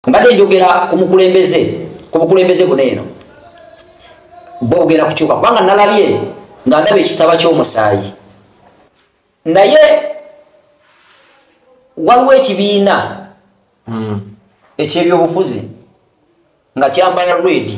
mbadde njogera ku mukulembeze ku bukulembeze buno eno bwe bugenda kukyuka kubanga nalabye nga ndaba ekitaba ky'omusaayi naye waliwo ekibiina hmm. ekyebyobufuzi nga kyambala redi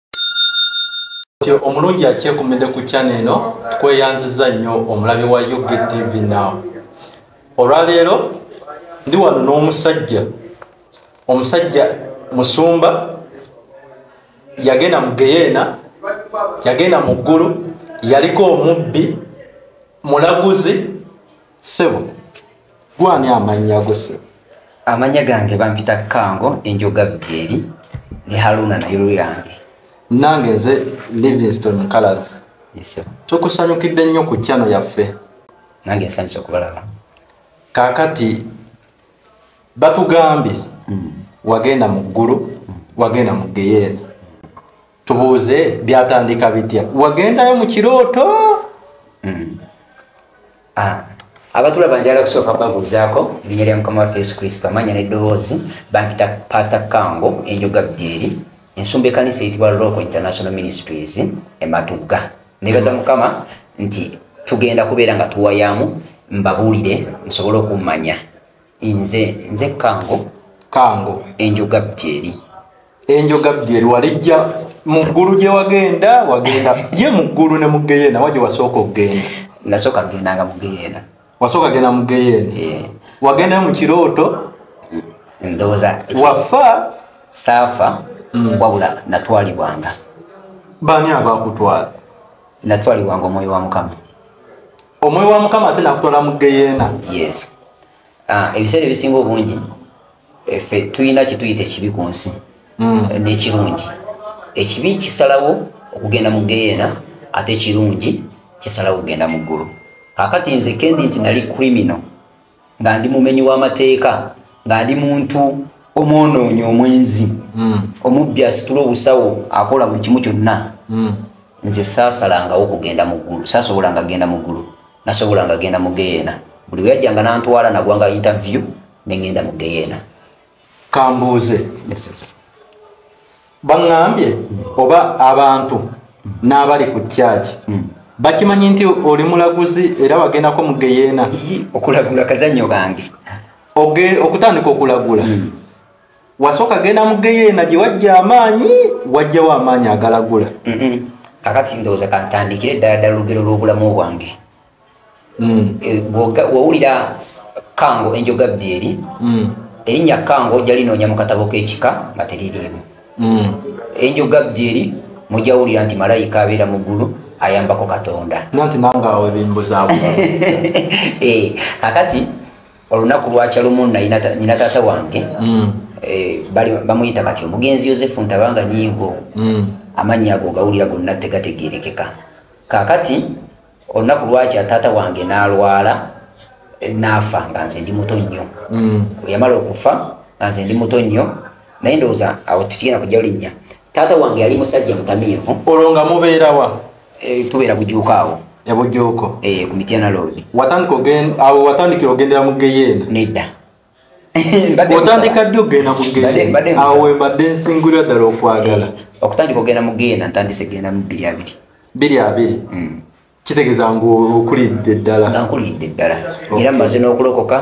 omulungi akyekumidde ku kyana eno tukweyanziza nnyo omulabi wa ugtv now olwaleero ndi wano n'omusajja omusajja musumba yagenda mu geyeena yagenda mu ggulu yaliko omubbi mulaguzi sebo gwani amannya go sebo amannya gange bampita kango enjoga byeri ne haruna naye luyange nange nze livingston mukalas tukusanyukidde nnyo ku kyano yaffe nange nsanyusa okubalaba kakati batugambye hmm. wagenda mu ggulu hmm. wagenda mu geyeena tubuuze byatandika bitya wagendayo mu kirooto mm. ah. abatulaba njala kusooka babuuzaako linya lya mukama waffe yesu kristo amanya neddoboozi bampita pasita kango enjoga byeri ensumba ekanisa eyitibwa local international ministries ematugga nebaza mukama nti tugenda kubeera nga tuwayamu mbabuulire musobole okummanya nze nze kango kango enjoga byeri enjoga byeri walijja mu ggulu gye wagenda wagenda ye mu ggulu ne mugeyeena waje wasooka okugenda nasooka gendanga mugeyeena wasooka genda mugeyeena eh. wagendayo mu kirooto ndowooza wafa saafa hmm. wabula natwalibwanga baani abakutwala natwalibwanga omwoyo wa mukama omwoyo wa mukama ate nakutwala mu geyeena yes ah, ebiseera ebisinga obungi efe eh, tulina kyetuyita ekibi ku nsi hmm. eh, nekirungi ekibi kisalawo okugenda mu geyeena ate ekirungi kisalawo okugenda mu ggulu kakati nze kendi nti nali criminal nga ndi mumenyi w'amateeka nga ndi muntu omwonoonyi omwenzi hmm. omubbi asitula obusawo akola buli kimu kyonna hmm. nze saasalangawo kugenda mu ggulu saasobolanga kgenda mu ggulu nasobolanga kgenda mu geyeena buli weyajjanga nantwala nagwanga interview ne ŋŋenda mu geyeena kambuuze baŋŋambye oba abantu n'abali ku kyaki hmm. bakimanyi nti oli mulaguzi era wagendako mu geyeena okulagula kazanyo bange okutandika okulagula hmm. wasooka genda mu geyeena gye wajja amaanyi wajjawo amaanyi agalagula hmm. kakati ndowooza kantandikire ddala ddala olugero lw'obulamu bwange mm. eh, wowulira kango enjoga byeri mm. erinnya kango ojja linoonya mu katabo k'ekika nga teririimu mm. enjoga byeri mujawulira nti malayika abeera mu ggulu ayambako katonda nanti nange awo ebimbuzaabu eh, kakati olunaku lwakya lumu nina taata wange mm. eh, bamuyita batyo omugenzi yosefu ntabanga nyingo mm. amannya ago gawulira gonna tegategerekeka kakati olunaku lwakya taata wange n'alwala naafa nga nze ndi muto nnyo mm. yamala okufa nga nze ndi muto nnyo naye ndowooza awo tukigenda kujja olinnya taata wange yali musajja mutamiivu olwo nga mubeerawa eh, tubeera bujuuka awo ebujuuko eh, ku mityana loodi awo watandikira ogendera mu geyeena nedda otandika ddi okugenda mugenda awo wembadde nsingulira ddala okwagala eh, okutandika okugenda mugenda ntandise kugenda mu biri abiri biri abiri hmm. kitegeeza ngaokulidde ddala nga nkulidde ddala era maze n'okulokoka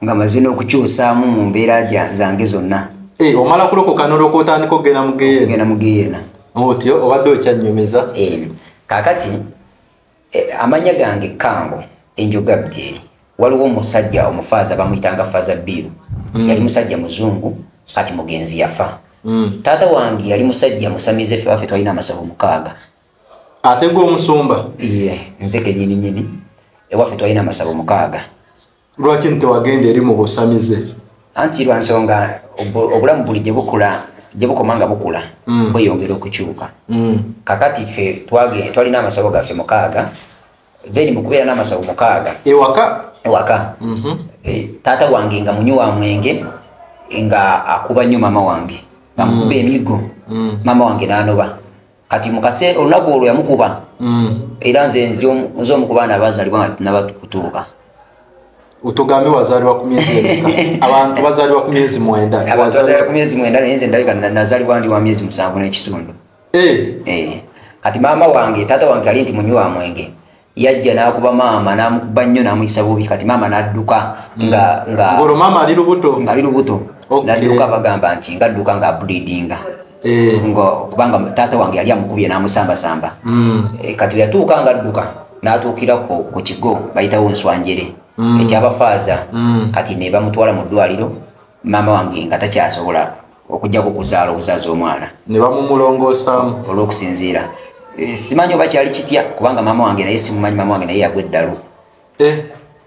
nga maze n'okukyusaamu mu mbeera zange zonna eh, omala kulokoka noloka otandika okugenda mugenda mugenda otyo obadde okyanyumiza eh, kakati Eh, amanya gange kango enjoga bjeri waliwo omusajja omufaaza bamuyitanga faaza biiru mm. yali musajja muzungu kati mugenzi yafa mm. taata wange yali musajja musamize fe wafe twalina amasabo mukaaga ate gwe omusumba ye nze kenyini nyini ewaffe twalina amasabo mukaaga lwaki nti tewagenda eri mu busamize anti lwa nsonga obulamu buli gye bukula gye bukoma nga bukula mm. bweyongera okukyuka mm. kakati ffe twalina amasawo gaffe mukaaga then mukubeera n'amasawo mukaaga ewaka ewaka mm-hmm. eh, taata wange nga munywi wa mwenge nga akuba nnyo maama wange nga mukuba mm. emigo maama wange n'anoba kati mukase olunaku olwo yamukuba mm. era nze nze omu ku baana abazalibwa nabatukutuuka otogambe wazalibwa ku myezi abantu bazalibwa ku myezi mwenda abantu bazalibwa ku myezi mwenda naye nze ndabika nazalibwa ndi wa myezi musanvu n'ekitundu eh. Eh. kati maama wange taata wange ali nti munywi wa mwenge yajja nakuba maama namukuba nnyo namuyisa bubi kati maama nadduka mm. nga nga ngolo maama ali lubuto nga ali lubuto okay. nadduka bagamba nti ngadduka nga abulidinga eh. ngo kubanga taata wange yali amukubye namusambasamba mm. e, kati yatuuka nga adduka natuukira ku, ku kigo bayitawo nswanjere mm. ekyabafaaza mm. kati nebamutwala mu ddwaliro maama wange nga takyasobola okujjako okuzaala obuzaaza omwana ne bamumulongoosamu olw'okusinziira eh, simanyi oba kyali kitya kubanga maama wange naye simumanyi maama wange naye yagwa eddalu eh?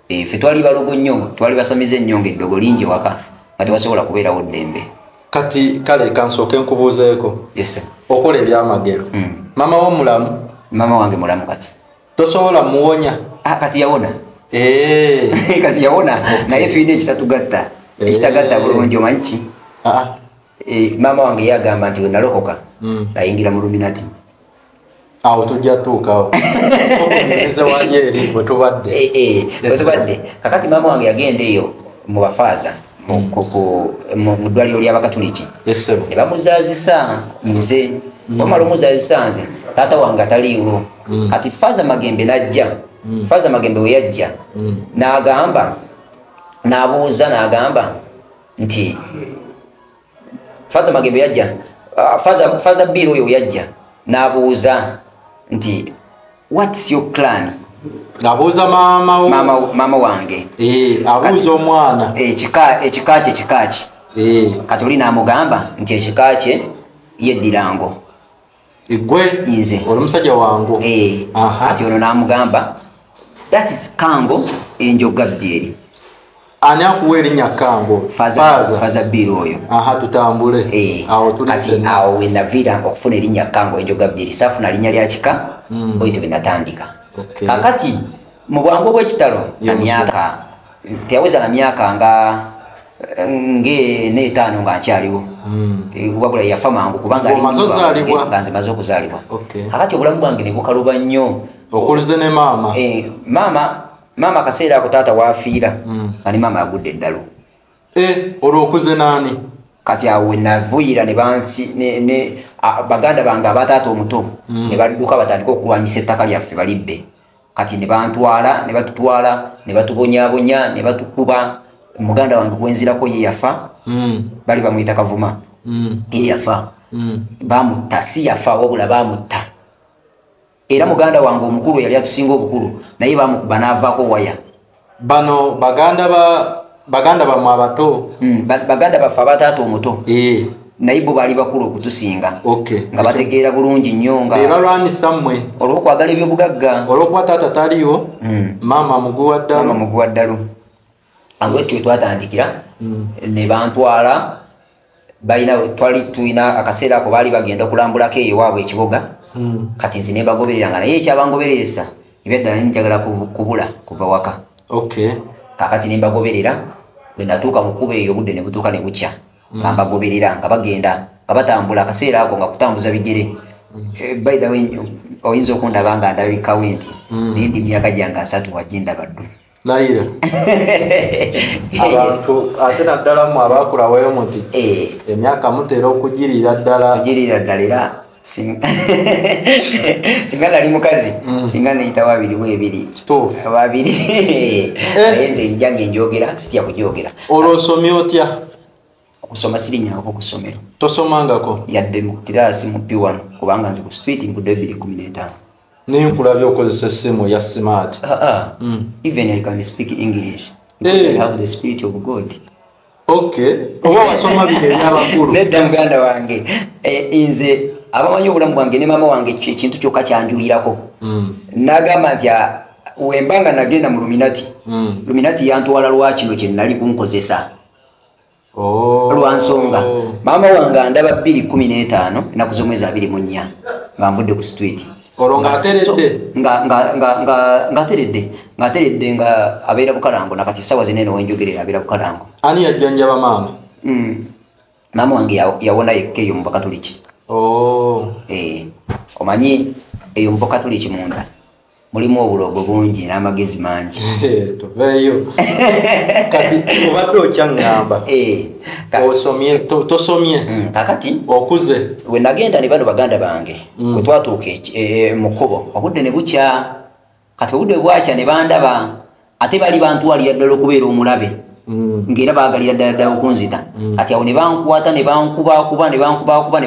Eh, ffe twali balogo nnyo twali basamize ennyo nga eddogo lingi waka nga tebasobola kubeerawo ddembe kati kale kansooke nkubuuzeeko okola ebyamagero mm. maama wo mulamu maama wange mulamu kati tosobola muwonya ah, kati yawona eh. kati yawona naye tulina ekitatugatta eh. ekitagatta bulungi omanyi ki ah, ah. eh, maama wange yagamba nti wenalokoka hmm. ayingira mu luminati awo tujja tuukawo wetubadde kakati maama wange yagenda eyo mu bafaaza mu ddwaliro ly'abakatuliki ne bamuzaazisa nze mm. bamala omuzaazisa nze taata wange ataliiwo mm. kati faaza magembe n'ajja mm. faaza magembe we yajja n'agamba n'abuuza n'agamba nti faza magembe yajja ah, faza faza biro yo yajja nabuuza nti what's your plan abuuza mama mama mama wange eh abuuza omwana eh kika ekika kye kika kye eh katulina amugamba nti ekika kye yedirango egwe nze oli musajja wangu eh, kati ono namugamba that is kango enjoga byeri ani akuwa erinnya kango faza biiri oyo aha tutambule eh, awo kati awo wenavira okufuna erinnya kango enjoga byeri safuna linnya lya kika mm. oito wenatandika okay. kakati mu bwangu obwekitalo na myaka teyaweza na myaka nga ng'ena etaano nga nkyaliwo hmm. eh, wabula yafa mangu kubanga nga nze maze okuzaalibwa akati obulamu bwange ne bukaluba nnyo okuluze ne maama eh, maama maama akaseera ako taata waafiira hmm. nga ne maama agudde eddalu eh, olwo okuze naani kati awo wenavuyira ne bansi baganda bange abataata omuto hmm. ne badduka batandika okulwanyisa ettaka lyaffe balidde kati nebantwala nebatutwala nebatubonyabonya nebatukuba muganda wange gwenzirako yeyafa mm. bali bamuyita kavuma mm. yeyafa mm. bamutta si yafa wabula bamutta era muganda wange omukulu yali atusinga obukulu naye bamukuba navako waya bano baganda ba baganda bamwe abato mm, baganda baffe abataata omuto e. naye bo baali bakulu okutusinga okay. nga bategeera bulungi nnyo nga bebalwanyisa mmwe olwokwagala ebyobugagga olwokuba taata taliwo mm. maama muguwa ddalu muguwa ddalu awo etyo twatandikira mm. ne bantwala balina twali tulina akaseera ako baali bagenda okulambulako eyo waabwe ekibuga hmm. kati nze nebagoberera nga naye ekyabangobereresa ebyaddala njagala kubula kuva waka kakati nembagoberera bwenatuuka mukuba eyo obudde nebutuuka nebukya hmm. nga mbagoberera nga bagenda nga batambula akaseera ako nga kutambuza bigere hmm. eh, baitha oyinza okundaba nga ndabikawe nti naye ndi myaka gyange asatu wajindabaddu nayira abantu ate naddala mu abakulawayo muti eh. emyaka mutera okugirira ddala ogirira ddala era singa nali mukazi mm. singa neyitawo abiri mu ebiri ababiri eh. naye nze njange njogera sitya kujogera olwo osomye otya okusoma sirinyangako ku ssomero tosomangako yadde mu kiraasi mu p1 kubanga nze ku street ngudo ebiri kumi n'etaano naye nkulabye okozesa essimu ya smart ah, ah. Hmm. even i can speak english eh. i have the spirit of god okay oba wasoma bino ebyabakulu nedda muganda wange eh, nze abamanyi obulamu bwange ne maama wange ekintu kyokka kyanjulirako hmm. nagamba nti ah, wemba nga nagenda mu luminati hmm. luminati yantwala lwakino kyenali kunkozesa oh. lwa nsonga maama wange andaba bbiri kumi n'etaano ennaku z'omwezi abiri mu nnya nga nvudde ku situiti olwo ng'ateredde ng'ateredde ng'ateredde nga abeera bukalango nakati essaawa zina eno wenjogerera abeera bukalango ani yajjanjaba maama hmm. maama wange yawona yekka eyo mu bakatuliki oh. eh, omanyi eyo mu bakatuliki munda mulimu obulogo bungi n'amagezi mangi eh, tuveeyo kati obadde okyaŋŋamba eh, osomye tosomye mm, kakati okuze we nagenda ne bano baganda bange mm. we twatuuka eh, mu kkubo obudde ne bukya kati obudde bwakya ne bandaba ate bali bantwalira ddala okubeera omulabe mm. ngaera bagalira ddala ddala okunzita mm. kati awo nebankwata nebankubakuba nebankubakuba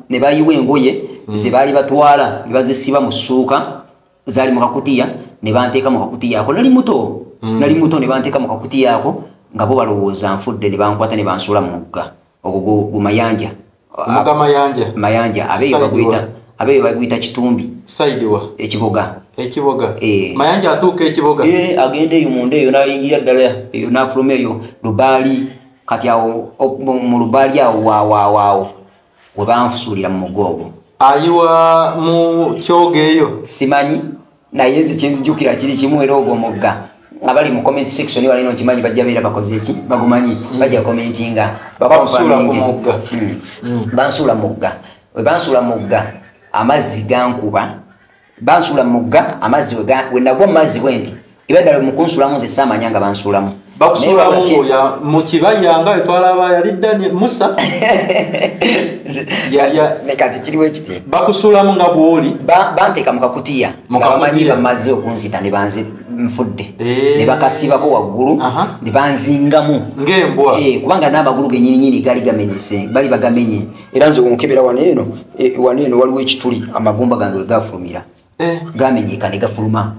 nebayiwa engoye mm. zebaali batwala nebazisiba mu ssuuka zaali mu kakutiya nebanteeka mu kakutiya ako nali muto nali muto nebanteeka mu kakutiya ako nga bo balowooza nfudde nebankwata nebansuula mu mugga ogwo gumayanja Omuga Mayanja. Mayanja abeyo bagwita abeyo bagwita Kitumbi. Side wa. Ekiboga. Ekiboga. Eh. Mayanja atuuka ekiboga. Eh agende eyo munda eyo nayingira ddala eyo nafuluma eyo Dubai kati awo mu Dubai awo wa wa wa. Webanfusulira mu mugogo. Ayiwa mu kyoge eyo. Simanyi. naye nze kyenzijukira kiri kimu era ogwo omugga nga bali mu comment section balina okimanyi bajja beera bakoze ki bagumanyi hmm. bajja commentinga bakusuula ku mugga hmm. Hmm. bansuula mugga we bansuula mugga amazzi gankuba bansuula mugga amazzi we nagwa mu mazzi bwe nti ebadala mukunsulamu nze saamanya nga bansuulamu bakusuulamu ngoya mu kibaya nga wetwalaba yali dani musa kati kiriwo ekiti bakusuulamu nga bwoli banteeka mu kakutiya nga bamanyi bamaze okunzita ne banze nfudde eh. ne bakasibako waggulu ne banzingamu ng'embwa eh, kubanga n'amagulu genyininyini gaali gamenyese bali bagamenye era nze onkebera wano eno eh, wano eno waliwo ekituli amagumba gange wegafulumira gamenyeka ne gafuluma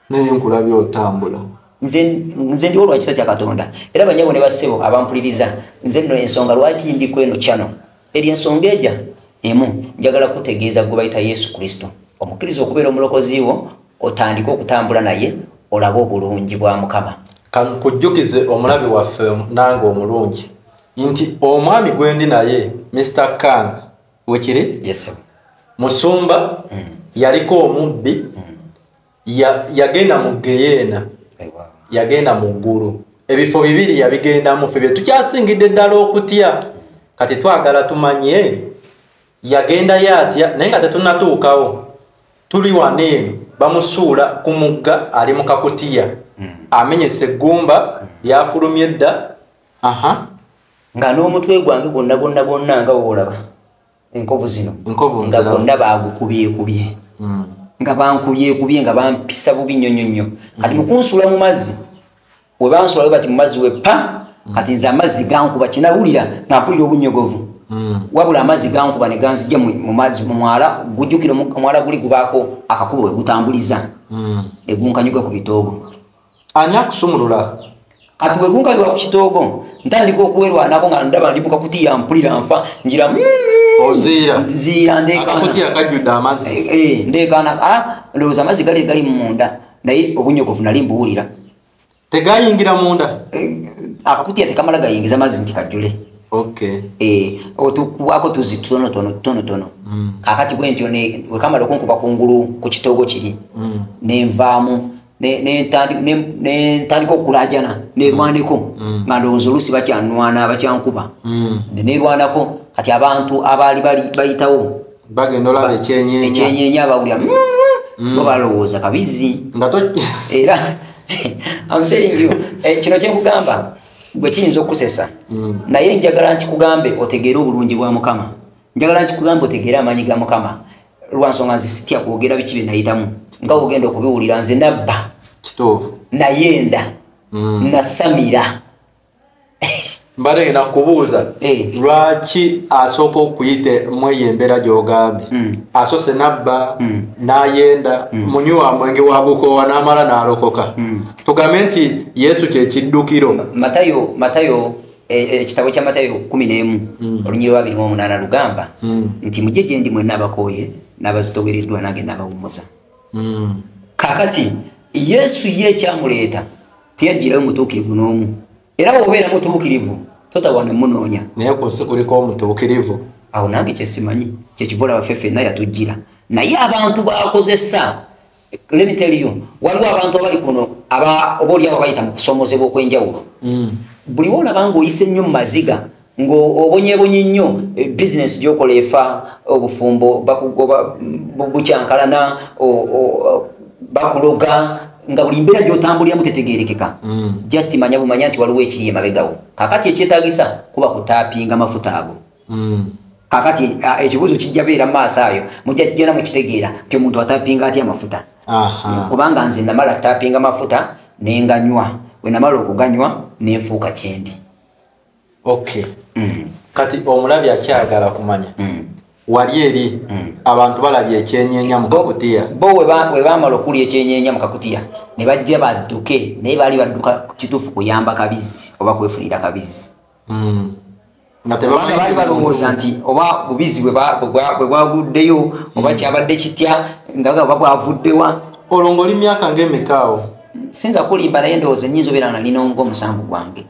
naye nkulabye otambula nze ndiwo lwakisa kya katonda era banyabo ne bassebo abampuliriza nze nno ensonga lwaki ndi ku eno kyano eri ensonga eja emu njagala kutegeeza gwe bayita yesu kristo omukkiriza okubeera omulokozi wo otandike okutambula naye olabe obulungi bwa mukama kankujjukize omulabe waffe nange omulungi nti omwami gwendi naye mr kang wekiri yes, musumba mm. yaliko omubbi mm. ya, yagenda mu geyeena hey, wow. yagenda mu ggulu ebifo bibiri yabigendamu fe bye tukyasingidde ddala okutya mm. kati twagala tumanye yagendayo atya naye nga tetunatuukawo tuli wano eno bamusuula ku mugga ali mu kakutiya mm. amenyesa eggumba mm. lyafulumye edda aha nga n'omutwe gwange gwonna gwonna gwonna nga woolaba enkovu zino nga gwonna baagukubyekubye hmm. nga bankubyekubye nga bampisa bubi nnyo nnyo nnyo hmm. kati mukunsuula mu mazzi we bansula we bati mu mazzi we pa hmm. kati nze amazzi gankuba kinawulira nga mpulira obunyogovu wabula amazzi gankuba ne ganzija mu mazzi mu mwala gujjukira omwala guli gubaako akakubo we gutambuliza egunkanyuga ku bitoogo ani akusumulula kati bwe kunkalirwa ku kitoogo ntandika okuwerwanako nga ndaba ndi mukakutiya mpulira nfa njira ndeekaana lowooza amazzi gali gali munda naye obunyogovu nali mbuwulira tegayingira munda eh, akakutiya tekamala gayingiza mazzi nti kajjule eh, otukwako tuzi tutonotonotonotono mm. kakati bwentyo wekamala okunkuba kungulu ku kitoogo kiri mm. nenvaamu nentandika okulajana nerwaneko mm. mm. nga ndowooza oluusi bakyanwana bakyankuba mm. nerwanako kati abantu abaali bayitawo ekyenyenye abawulira bo balowooza kabizi era eh, kino kyenkugamba bwe kiyinza okusesa naye njagala nkikugambe otegeere obulungi bwa mukama njagala nkikugambe otegeere amaanyi ga mukama lwansonga nze sitya kwogera biki byenayitamu nga ogenda okubiwulira nze nabba kituufu nayenda mm. nasamira mbadde nakubuuza eh. lwaki asooka okuyite mweyo embeera gyogambye mm. asoose nabba mm. nayenda munywa mwenge wagukoowa n'amala n'alokoka tugambe nti yesu kyekiddukiro matayo matayo ekitabo e, kya matayo kumi n'emu hmm. olunyiri lwabiri mu omunaana lugamba hmm. nti mujje gye ndi mwenna abakooye n'abazitowereddwa nange n'abawummuza hmm. kakati yesu ye ekyamuleeta teyajjirayo mutuukirivu n'omu era bwobeera mutuukirivu totawana munoonya naye ku nsi kuliko omutuukirivu awo nange kyesimanyi kyekivola baffe fenna yatujjira naye abantu bakozesa let me tell you waliwo abantu abali kuno aba oboli abo bayita mukusomozebwa okwenjawulo mm. buli wona bangu oyise nnyo mumaziga ngo obonyebonye nnyo eh, business gyokola efa obufumbo bakugoba bukyankalana bakuloga nga buli mbeera gyotambulira mutetegerekeka mm. just manya bumanya nti waliwo ekiri emabegawo kakati ekyetagisa kuba kutapinga mafuta ago mm. kakati ah, ekibuuzo kijja beera mu maaso ayo mujja kigenda mu kitegeera nti omuntu atapinga atya amafuta kubanga nze namala tapinga amafuta nenganywa bwe namala okuganywa nenfuuka kyendi okay mm. kati omulabi akyagala kumanya mm. wali eri mm. abantu balabye ekyenyenya mukakutiya bo webamala okulya ekyenyenya mukakutiya ne bajja badduke naye baali badduka kituufu kuyamba kabizzi oba kwefunira kabizzi mm. baali balowooza nti oba bubizi bwe bwaguddeyo oba mm. kyabadde kitya ngaga oba bwavuddewa olwo ngaoli myaka ngaemekaawo sinza kulimba naye ndowooza enyinza obeera nga nina nga omusango gwange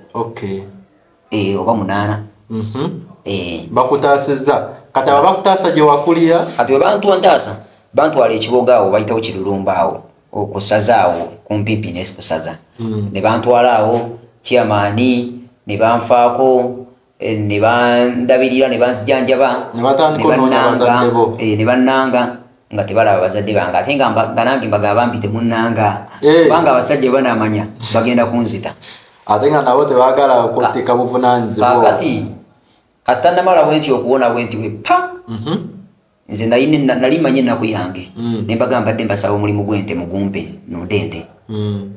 eh, oba munaana mhm. eh. bakutaasizza kati aba bakutaasa gye wakulira kati webantu ntaasa bantwala ekiboga awo bayitawo kirulumba awo okusaza awo kumpimpi nesikusaza mm. ne bantwala awo kyamaani ne banfaako eh, ne bandabirira ne banzijanjaba ne bannanga eh, nga tebalaba bazadde bange ate nga nange mbaga bambi temunanga eh. kubanga abasajja banamanya bagenda kunzita ate nga nabo tebagala kutika buvunanyizibwakati kasita namala wenti okuwona wenti wepa mhm. nze nayine na- nali manyi ennaku yange Mm. ne mbaga mbadde mbasaba omulimu gw'ente mugumpe nunde ente Mm.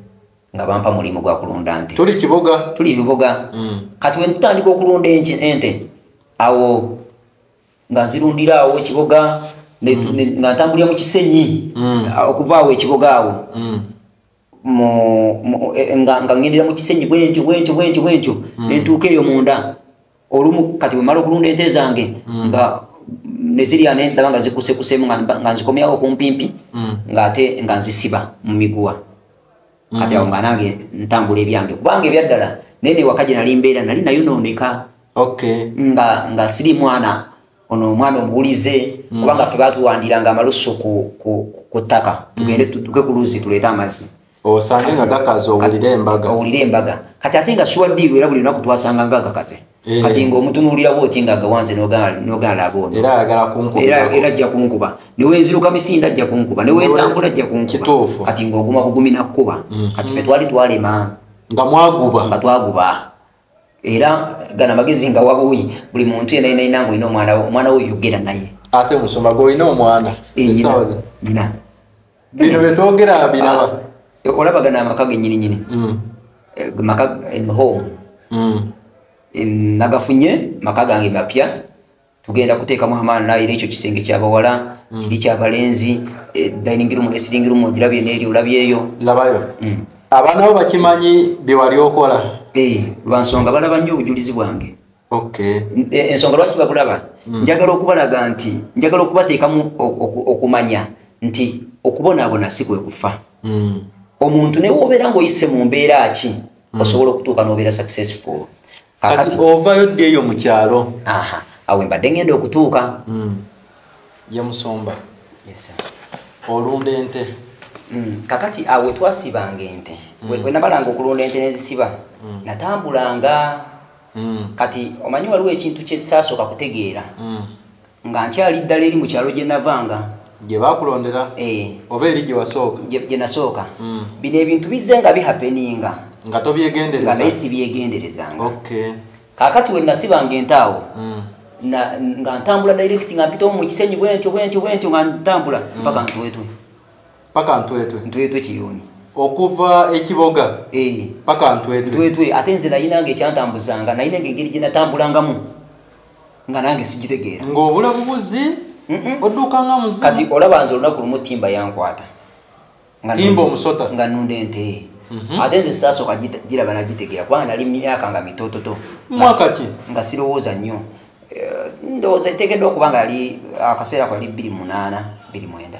nga bampa mulimu gwa kulunda nte tuli kiboga tuli ebiboga Mm. kati we ntutandika okulunda enki- ente awo nga nzirundira awo ekiboga ne- ne- nga ntambulira mu kisenyi Mm. a- okuva awo ekiboga awo Mm. e, nga ngendera mu kisenyi bwentyo bwentyo bwentyo bwentyo hmm. nentuuka eyo munda olumu kati bwemala okulunda ente zange hmm. nga nezirya nendaba nga zikusekusemu nga nzikomyawo okumpimpi hmm. ngaate nga nzisiba mu miguwa kati awo nga nange ntambula ebyange kubanga ebyaddala naye newaka gye nali mbeera nali nayonooneka nga siri mwana ono omwana omuwulize mm. kubanga ffe batuwandiranga amalusu ku ttaka mm. tugende tuke ku luzzi tuleete amazzi osange nga gakaze owulire embaga owulire embaga kati ate nga shuwa diiru era buli lunaku twasanga nga gakaze eh. kati nga omutunuulirawo oti nga agawanze nogala aboona era ajja kunkuba newenziruka misinda ajja kunkuba newentambula ajja kunkuba kati nga oguma bugumi nakkuba mm. kati fe twali twalema nga mwaguba nga twaguba era gana magezi nga wabuyi buli muntu yena yena inango ino mwana mwana wo yogera naye ate musoma go ino mwana isawaza bina bino betogera binaba ah, eh, olaba gana amaka genyini nyini mm. Eh, maka in home mm. in nagafunye maka gange mapya tugenda kuteekamu amaani naye era ekyo kisenge kyabawala mm. kiri kyabalenzi e, dining room ne sitting room ogirabye neeri olabyeyo labayo mm. abaana bo bakimanyi byewali okola eh, lwansonga balaba nnyo obujulizi bwange e, ensonga lwaki babulaba mm. njagala okubalaga nti njagala okubateekamu okumanya nti okubonaabona si kwe kufa omuntu newe obeera ngaoyise mu mbeera ki osobola okutuuka n'obeera successful kati ovayo ddi eyo mu kyalo awo mbadde ngenda okutuuka hmm. ye musumba olunda ente hmm. kakati awo twasibanga ente hmm. wenabalanga okulunda ente nezisiba natambulanga kati omanyi waliwo ekintu kyesasooka kutegeera nga nkyali ddala eri mu kyalo gye navanga gye bakulondera eh. oba eri gye wasooka gye nasooka hmm. bino ebintu bizze nga bihapeninga nga tobyegendereza naye sibyegenderezanga kakati we nasibanga entaawo hmm. nga ntambula direct nga mpitawo mu kisenyi bwentyo bwentyo bwentyo nga ntambula hmm. mpaka ntwetwe paka ntwetwe ntwetwe kiyoni okuva ekiboga eh. paka ntwetwe ntwetwe ate nze nayinanga ekyantambuzanga nayinanga engeri gye natambulangamu nga nange sigitegeera ng'obula bubuzi odduuka nga muzi kati olaba nze olunaku lumu timba yankwata timba omusota nga nunda ente mhm. ate nze sasooka giraba nagitegeera kubanga nali myaka nga mitototo mwaka ki nga sirowooza nnyo eh, ndowooza eteekeddwa okuba nga ali akaseera ko ali bbiri munaana bbiri mwenda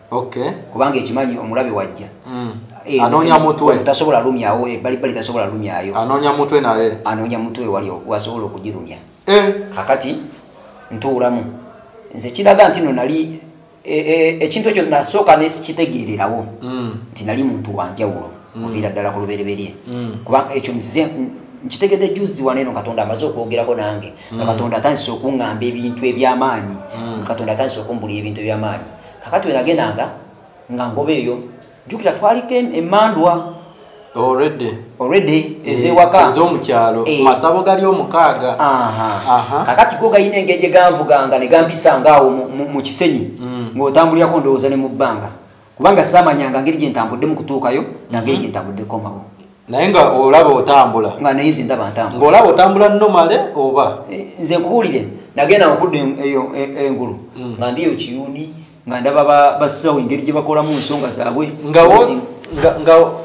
kubanga ekimanyi omulabe wajja hmm. eh, anoonya eh, mutwe eh, tasobola lumyawo ebbalibbali tasobola lumyayo anoonya mutwe naye anoonya mutwe wali wasobola okugirumya kakati ntuulamu nze kiraga nti no nali ekintu ekyo nasooka nesikitegeererawo hmm. nti nali muntu wanjawulo hmm. muviira ddala ku lubereberye kuba ekyo nze nkitegedde juzi wano eno katonda amaze okwogerako nange nga katonda atandise okuŋŋamba ebintu eby'amaanyi katonda atandise okumbulira ebintu eby'amaanyi kakati wenagendanga nga ngoba eyo jukira twaliko emandwa ezewaezomukyalo eh, eh. masabo gali omukaaga kakati go galina engeri gyeganvuganga negampisanga awo mu kisenyi mm. ngaotambulirako ndowooza ne mu bbanga kubanga samanyanga ngeri gyentambuddemu kutuukayo nangeri mm-hmm. gyentambuddeko mawo naye nga olaba otambula nga naye nze ndaba ntambula ng'olaba otambula nomale oba eh, nze nkubuulire nagenda okudda eyo e, e, engulu mm. nga ndiyo kiyuuni nga ndaba basawo engeri gye bakolamu ensonga zaabwe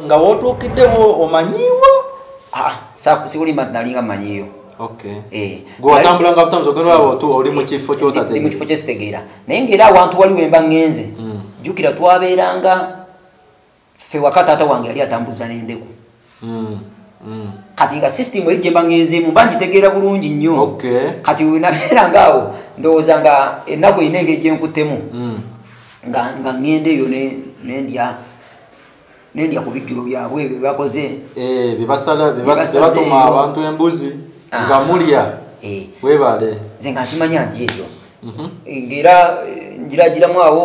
nga wotuukiddewo omanyiiwo ah, ah, sikulimba nti nalinga manyiiyo eh, oli mu kifo kyesitegeera naye ngaera awantu wali wemba ngenze mm. jukira twabeeranga ffe waka taata wange yali atambuza n'endeku mm, mm. kati nga sisitimu eri gyemba ngenzeemu mba ngitegeera bulungi nnyo kati wenabeera nga awo ndowooza nga ennaku erina engeri gyenkuttemu mm. nga ngenda eyo nendya nendya ku bijjulo byabwe ebyo byebakoze eh, byebasalabyebatuma abantu embuzi ah. nga mulya eh. webale nze nga nkimanya nti ebyo mhm. eh, ngaera njiragiramu awo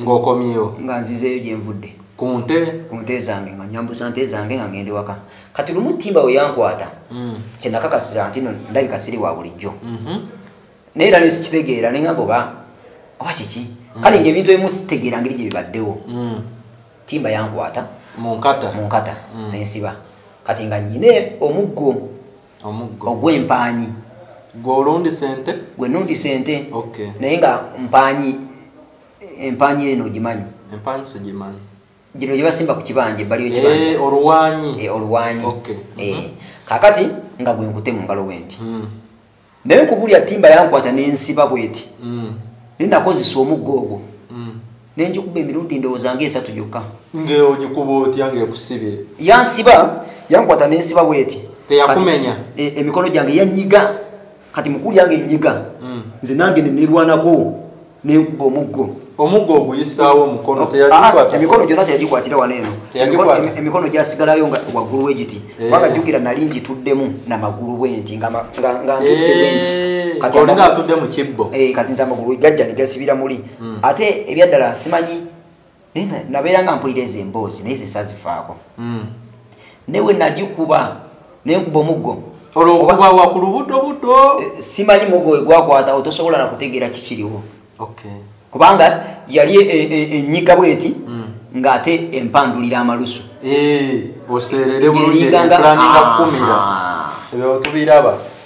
ng'okomyewo nga nzizeeyo gye nvudde ku nte ku nte zange nga nyambusa nte zange nga ngende waka kati lumu ttimba we yankwata mm. kye nakakasiza nti no ndabika siri wa bulijjo mm-hmm. naye era nesikitegeera ne ngamba oba oba kiki mm. kale ngaebintu ebimu sitegeera ngeri gye bibaddewo mm. ttimba yankwata mu nkata nensiba kati nga nyine omuggo ogw'empaanyi gwolundi sente gwe nundi sente naye nga mpaanyi empaanyi eno ogimanyi empaanyi sigimanyi gino gyebasimba ku kibanja ebbali yekibanja eh, oluwanyi eh, oluwanyi eh, mhm. kakati nga gwenkute mu ngalo bwenti hmm. naye nkubulya timba yankwata nensiba bweti hmm. naye nakozesa omuggo ogwo nenjikuba emirundi endowooza nga esatu gyokka ngeogikuba otya ngaekusibye yansiba yankwata nensiba bweti teyakumenya e, emikono gyange yanyiga kati mukulu yange enyiga hmm. nze nange nenerwanako nenkuba omuggo omuggo oguyisaawo omukono oh, ah, emikono gyona teyagikwatira wano eno emikono gyasigalayo nga waggulu wegiti eh. kubanga jjukira nali ngituddemu namagulu bwenti nga ntudde bwenti eh, kati nze amagulu gajja negasibira muli mm. ate ebyaddala nsimanyi nabeera nga mpulira ezo emboozi naye zesazifaako mm. naye we nagikuba naye nkuba omuggo olwokubawa ku lubuto buto eh, simanyi muggo wegwakwatawo tosobola nakutegeera kikiriwo kubanga yali e, e, e, enyiga bweti mm. ng'ate empandulira amalusu eh, oseerere bulungi ekulaniga kukumira ah. ebyo tubiraba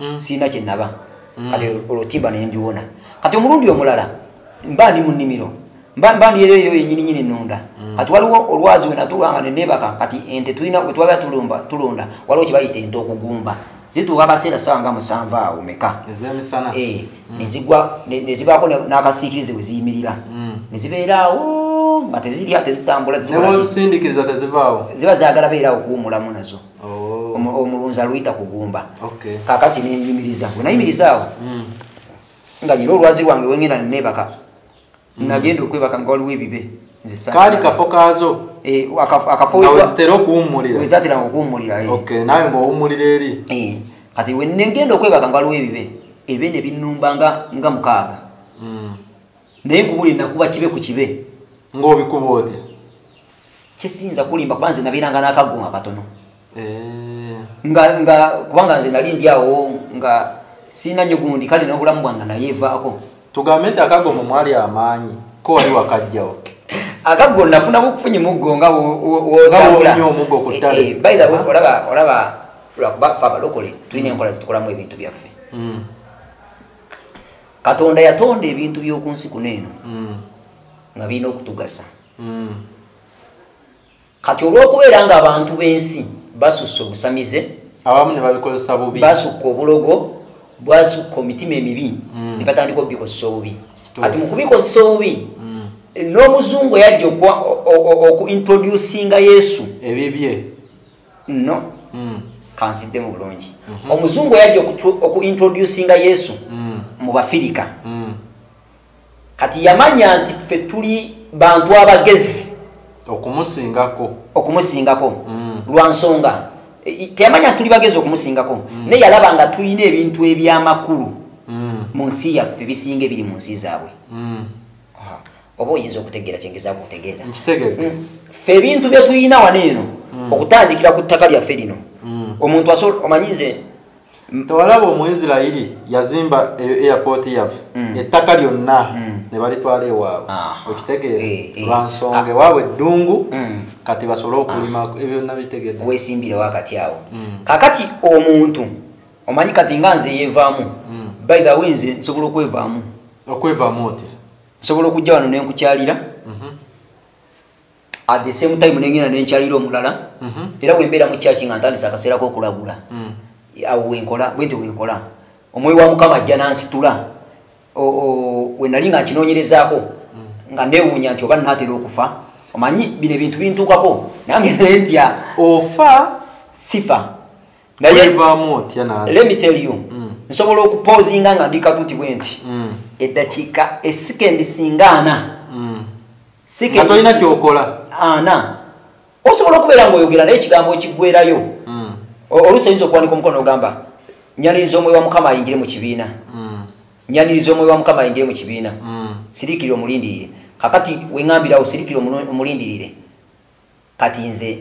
mm. sirina kyenaba mm. kati olutimba naye ndiwona kati omulundi omulala mba ndi mu nnimiro mba ndi era eyo yenyininyini nonda mm. kati waliwo olwazi wenatulwanga nenebaka kati ente tulina wetwaba tulumba tulonda waliwo kyebayita ente okugumba zituuka akaseera sawa nga musanvu awo meka eh, mm. nezigwa nezibaako n'akasiikirize we ziyimirira mm. nezibeeraawo nga tezirya tezitambula ziba zagala beeraawo kuwumulamu nazo oh. omulunzi aluyita kugumba kakati nenjumiriza bwe nayimirizaawo hmm. nga nyina olwazi lwange wengenda nebaka hmm. nagenda okwebaka nga waliwo ebibe kaali kafo kaazo eh, akafowezitera okuwummuliraezatera okuwummulira eh. nawe ngaowummulira eri eh, kati wenengenda okwebaka nga waliwo ebibe ebe ne binnumba nga mukaaga hmm. naye nkubuli nakuba kibe ku kibe ng'obikuba oti kyesiyinza kulimba kuba nze nabeeranga n'akagunga katono eh. nga nga kubanga nze nali ndi awo nga sirina nnyo gundi kale n'obulamu bwange nayeevaako tugambe nti akago mu mwali amaanyi ko wali wakajjawo akaggo nafuna kukufunye muggo nga olaba lwakuba fe abalokole tulina enkola zitukolamu ebintu byaffe hmm. katonda yatonda ebintu by'oku nsi kuno eno mm. nga birina okutugasa mm. kati olw'okubeera nga abantu b'ensi basussa obusamize abamu ne babikozesa bubi basukka obulogo bwasukka omitima emibi mm. ne batandika obubikozesa obubi kati mu kubikozesa obubi n'omuzungu yajja okuintroducinga yesu ebibye no mm. kanziddemu bulungi mm -hmm. omuzungu yajja okuintroducinga yesu mm. mu bafirika mm. kati yamanya nti ffe tuli bantu abagezi okumusingako okumusingako mm. lwa nsonga e, teyamanya nti tuli bagezi okumusingako mm. naye yalaba nga tulina ebintu ebyamakulu mm. mu nsi yaffe bisinga ebiri mu nsi zaabwe mm. oba oyinza okutegeera kyengezaako okutegeeza nkitegedde hmm. fe ebintu bye tulina wano eno hmm. okutandikira ku ttaka lyaffe lino hmm. omuntu asobola omanyi nze tewalaba omuisirairi yazimba e-, airport yaffe mm. ettaka lyonna mm. ne balitwala ewaabwe okitegeera eh, eh. lwansonga ah. ewaabwe eddungu mm. kati basobole ah. okulima ebyonna bitegedde wesimbirewo akati awo kakati omuntu omanyi kati nga nze yevaamu by the way nze nsobola okwevaamu okwevaamu otya nsobola okujja wano nenkukyalira mhm. at the same time nengenda nenkyalira omulala mhm. era wembeera mu kyaki nga ntandisa akaseera kokulagula mm. awo wenkola bwenti wenkola omwoyo wa mukama ajja nansitula wenali nga nkinoonyerezaako mm. nga newuunya nti oba natera okufa omanyi bino ebintu bintuukako nange nentya ofa sifa naye let me tell you mm. nsobola okupozinga nga ndi katuti bwe nti mm. eddakiika esikendi singa ana mm. sikatolina kyokola ana osobola okubeera ngaoyogera naye ekigambo ekiggwerayo mm. oluusi oyinza okuwanika omukono ogamba nyaniriza omwoyo wa mukama ayingire mu kibiina mm. nyaniriza omwoyo wa mukama ayingire mu kibiina mm. sirikira omulindirire kakati wengambirawo sirikira omulindirire mm. kati nze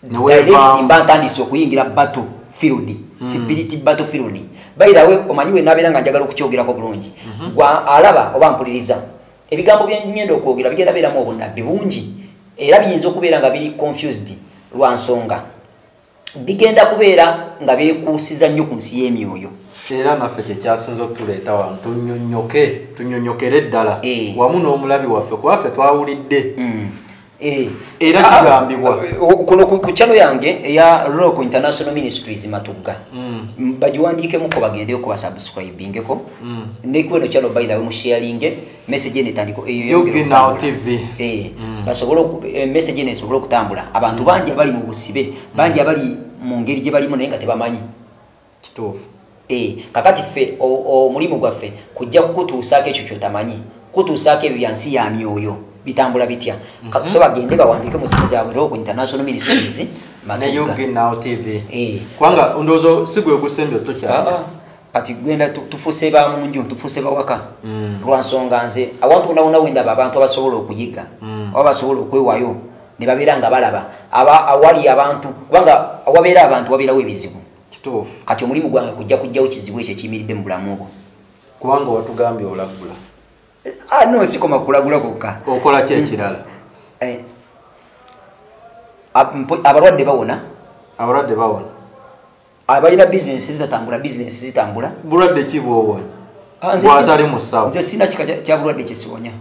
direct mba ntandise okuyingira battle field mm. spirit battle field by the way omanyi we nabera nga njagala okukyogerako bulungi mm -hmm. gwa alaba oba mpuliriza ebigambo bye nyendo okwogera bigenda beramu obunabbi bungi era biyinza okubeera nga biri confused lwa nsonga bigenda kubeera nga beekuusiza nnyo ku nsi y'emyoyo era naffe kyekyasinza okutuleeta wano tunyonyoke tunyonyokere ddala eh. wamu n'omulabi waffe kuba ffe twawulidde mm. eh. era ah, kigambibwa ah, kuno ku kyalo yange eya rock international ministries matugga mm. bagiwandiikemuko bagendeyo kubasubscribingeko mm. nekweno kyalo baithawe musharinge message ene tandiko eyo eh, yoge now tv eh mm. basobola eh, message ene sobola kutambula abantu mm. banje bali mu busibe banje mm. bali mu ngeri je bali mu nenga tebamanyi kitofu eh kakati fe o, o mulimu gwa fe kujja kutuusa ke chuchu tamanyi kutuusa ke byansi ya myoyo bitambula bitya mm -hmm. kakusoba gende bawandike mu simu zawe ro ku international ministries na yoge now tv eh kwanga ndozo sigwe kusembyo to cha ah, ah. kati gwenda tufuse ba munju tufuse bawaka mm. lwansonga nze awantu wonawona wendaba abantu abasobola okuyiga mm. oba basobola okwewayo ne babeera nga balaba aba awali abantu kubanga awabeera abantu wabeerawo ebizibu kati omulimu gwange kujja kujjawo kizibu ekyo ekiyimiridde mu bulamu obwo kubanga watugambye olagula ah, no sikoma kulagula kokka okola ki ekirala eh, abalwadde bawona abalwadde bawona abalina bizinesi zitatambula bizinesi zitambula bulwadde ki bwowonya ah, bwatali musawo nze sina kika kya bulwadde kyesiwonya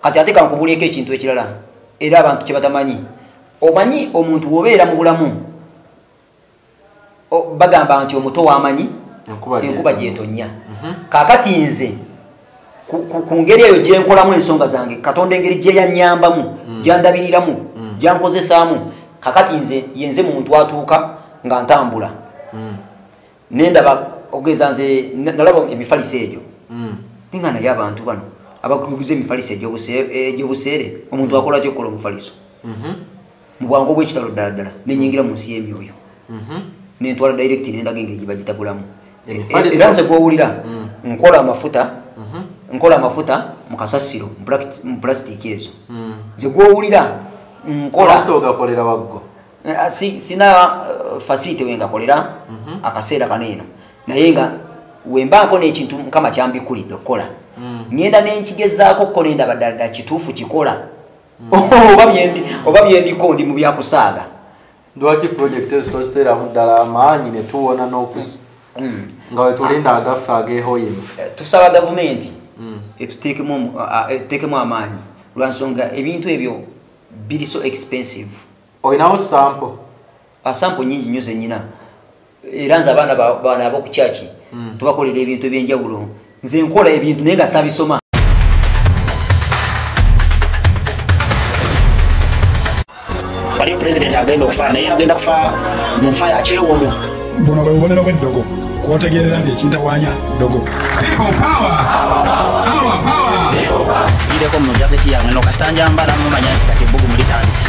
kati ate kankubuleeko ekintu ekirala era abantu kyebatamanyi omanyi omuntu wobeera mu bulamu bagamba nti omuto wamanyi enkuba gyetonya mhm. kakati nze ku ngeri eyo gyenkolamu ensonga zange katonda engeri gyeyanyambamu mm. gyandabiriramu mm. gyankozesaamu kakati nze yenze muntu atuuka nga ntambula mm. nendaba okugeza nze nalaba emifaliso egyo ninga naye abantu bano abakuguza emifaliso egyobuseere omuntu akola kyokukola omufaliso mm-hmm. mu bwangu obw'ekitalo ddala ddala ne nnyingira mu nsi y'emyoyo mhm. ne ntwala direct ne ndaga engeri gye bagitagulamu e, e, era nze gw'owulira mm. nkola amafuta mhm. nkola amafuta mu kasasiro mu pulasitiiki ezo mm. nze gw'owulira nkola ogakolera waggo eh, ah, sina eh, fasite we ngakolera mhm. akaseera kano eno naye nga wembaako n'ekintu mukama kyambikulidde okukola mm. ngenda nenkigezaako okukola endaba ddala ddala kituufu kikola oba byendiko ndi mu byakusaaga lwaki pulojekiti ezo toziteeramu ddala amaanyi ne tuwona n'okusi mm. nga wetulinda agaffe agehoyima eh, tusaba gavumenti mm. etuteekemu amaanyi lwansonga ebintu ebyo biri so expensive olinawo sampo ah, sampo nyingi nyo zenyina era nze abaana baana aboku kyaki hmm. tubakolera ebintu ebyenjawulo nze nkola ebintu naye nga sabisoma waliyo pulezidenti agenda okufa naye agenda kufa mu nfa yakyewono buno bwe bubonero bw'eddogo kwotegerera nti ekintawanya ddogo ireko mu jaketi yange nokasita njambala mumanya nti kati ebbugumu litandise